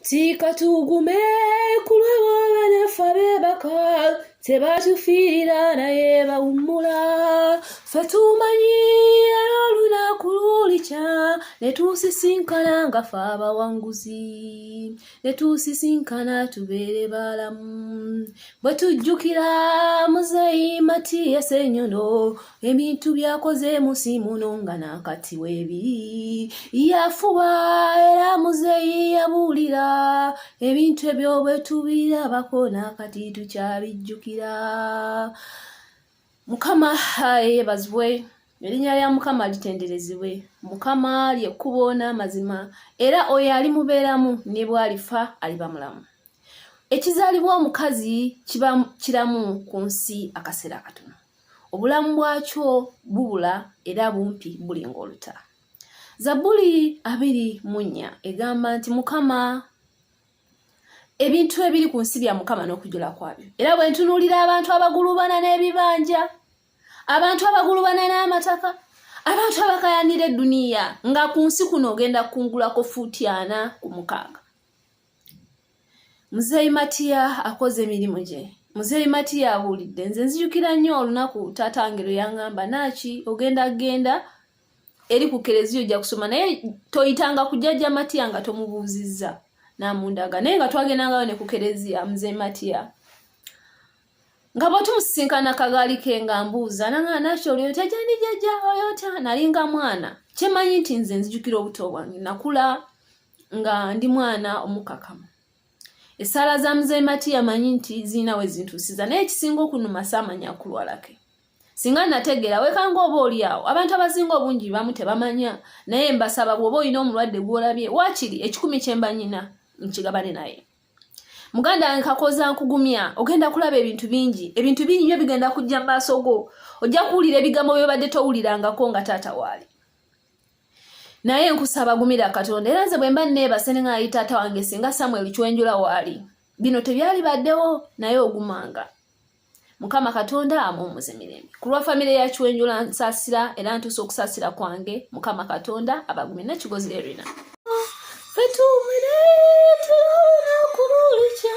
tika tugume kulwabo banafa bebaka tebatufiira naye bawummula fe tumanyi era olunaku lulikya ne tusisinkana nga fe abawanguzi ne tusisinkana tubeere baalamu bwe tujjukira muzeyi matiyese enyono ebintu byakoze munsi muno nga nakati webi yafuba era muzeyi yabuulira ebintu ebyo bwetubirabako nakati tukyabijjukira mukama yebazibwe erinnya lya mukama litenderezibwe mukama lyekkubo n'amazima era oyo ali mubeeramu ne bwalifa aliba mulamu ekizaalibwa omukazi kiba kiramu ku nsi akaseera katono obulamu bwakyo bubula era bumpi buli ng'oluta zabbuli abiri mu nnya egamba nti mukama ebintu ebiri ku nsi bya mukama n'okujula kwabyo era bwe ntunuulira abantu abagulubana n'ebibanja abantu abagulubana n'amataka abantu abakayanira edduniya nga ku nsi kuno ogenda kukungulako fuuti ana ku mukaaga muzeeyi matiya akoze emirimu gye muzeeyi matiya awulidde nze nzijukira nnyo olunaku taata wange lwe yaŋŋamba naaki ogenda genda eri ku kereziya ojja kusoma naye toyitanga kujajja matiya nga tomubuuzizza namundaga naye nga twagendangayo ne ku kereziya muzeeyi matiya nga bwetumusinkana kagaali ke nga mbuuza naŋaa naaki oli otya jani jajja oli otya nalinga mwana kyemanyi nti nze nzijukira obuto bwange nakula nga ndi mwana omukakamu esaala za muzei mati yamanyi nti ziina we zintuusiza naye ekisinga okunuma saamanya akulwalake singa nategeera wekanga oba oli awo abantu abasinga obungi bamu tebamanya naye mbasaba bwoba olina omulwadde gwolabye waakiri ekikumi kyemba nyina nkigabane naye muganda wange kakoza nkugumya ogenda kulaba ebintu bingi ebintu bingi nyo bigenda kujja mu maaso go ojja kuwulira ebigambo byobadde towulirangako nga taata waali naye nkusaba gumira katonda era nze bwemba neebase ne ngaayi taata wange singa samuel kwenjula waali bino tebyali baddewo naye ogumanga mukama katonda amuwumuze mirembe ku lwa famire ya kwenjula nsasira era ntuusa okusasira kwange mukama katonda abagumi nekigozi erina fetuumire tulaona kululikya